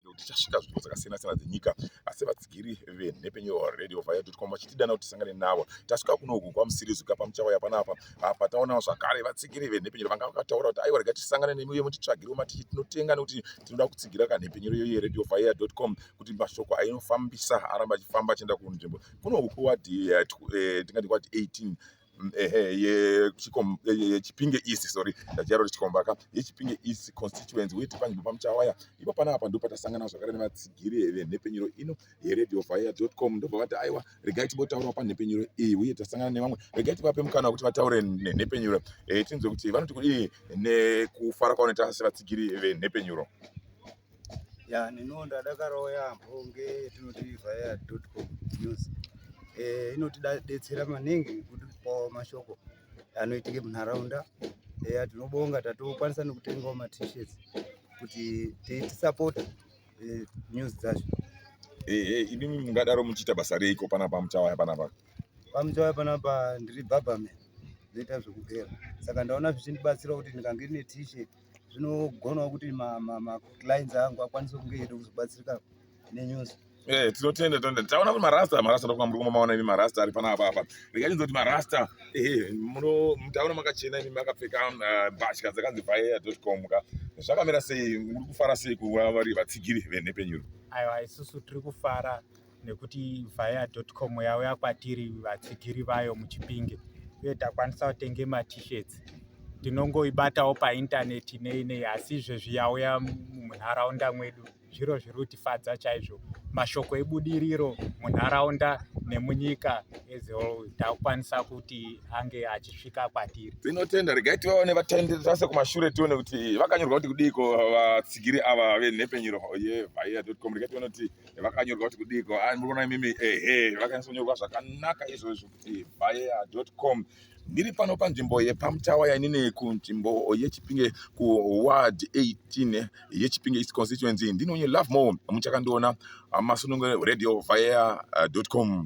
nekuti tasvika nzvimbo dzakasiyana siyana dzenyika asi vatsigiri venhepfenyuro radio vayadotcom vachitidana kuti tisangane navo tasvika kuno uku kwamusirizi kuya pamuchauya panapa apa taonawo zvakare vatsigiri venhepfenyuro vanga vakataura kuti aiwa rega tisangane nemi uye mutitsvagiriwo matichi tinotenga nekuti tinoda kutsigira kanhepfenyuro iyo yeradio vaya dotcom kuti mashoko ainofambisa aramba achifamba achienda kunzvimbo kuno uku wadi eh, eh, tingati wadi 18 yechipinge east sorry ndachiyaro kuti chikomba ka yechipinge east constituency weti panzvimbo pamuchawaya ipo panapa ndipo patasangana zvakare nevatsigiri venhepfenyuro ino yeradio vaya com ndobva vati aiwa regai timbotaurawo panhepfenyuro iyi uye tasangana nevamwe regai tivape mukana wekuti vataure nenhepfenyuro eh, tinzwe kuti vanoti kudii nekufara kwavanoita sevatsigiri venhepfenyuro ya neniwo ndadakarawo yaambo ngetinoti vayadotcom news eh, inotidetsera maningi kutipawo mashoko anoitike munharaunda eya eh, tinobonga tatokwanisa nekutengawo matishets kuti tisapota eh, news dzacho ini mungadaro muchiita basa reiko panapa muchawaya panapa pamuchawaya panapa ndiri bhabhame zvoita zvekugera saka ndaona zvichindibatsira kuti ndikange ndine t-shirt zvinogonawo kuti maclines angu akwanise kunge eida kuzobatsirika nenews Eh, tinotenda tinotenda taona kuti marasta marasta ndokuva muri kumaona imi marasta ari pana apa apa rekanyidzo kuti marasta ehe taona makachena imi makapfeka eh, mbatya dzakanzi vaea dot com ka zvakamira sei muri kufara sei kuva vari vatsigiri venhepenyuro aiwa isusu tiri kufara nekuti via com yauya kwatiri vatsigiri vayo muchipinge uye takwanisa kutenge matishets tinongoibatawo paintaneti nei nei asi izvezvi yauya munharaunda mwedu zviro zviri kutifadza chaizvo mashoko ebudiriro munharaunda nemunyika ezewol takukwanisa kuti ange achisvika kwatiri tinotenda regai tivaone vatendi tase kumashure tione kuti vakanyorwa kuti kudiiko vatsigiri ava venhepfenyuro yevia com regai tione kuti vakanyorwa kuti kudiko ah, murikuona imimi ehe vakanyatsanyorwa zvakanaka izvozvo kuti bayer com ndiri pano panzvimbo yepamutawa yainini kunzvimbo yechipinge kuward 18 yechipinge east constituency ndinonye love more muchakandiona ah, masunungo radio via ah, com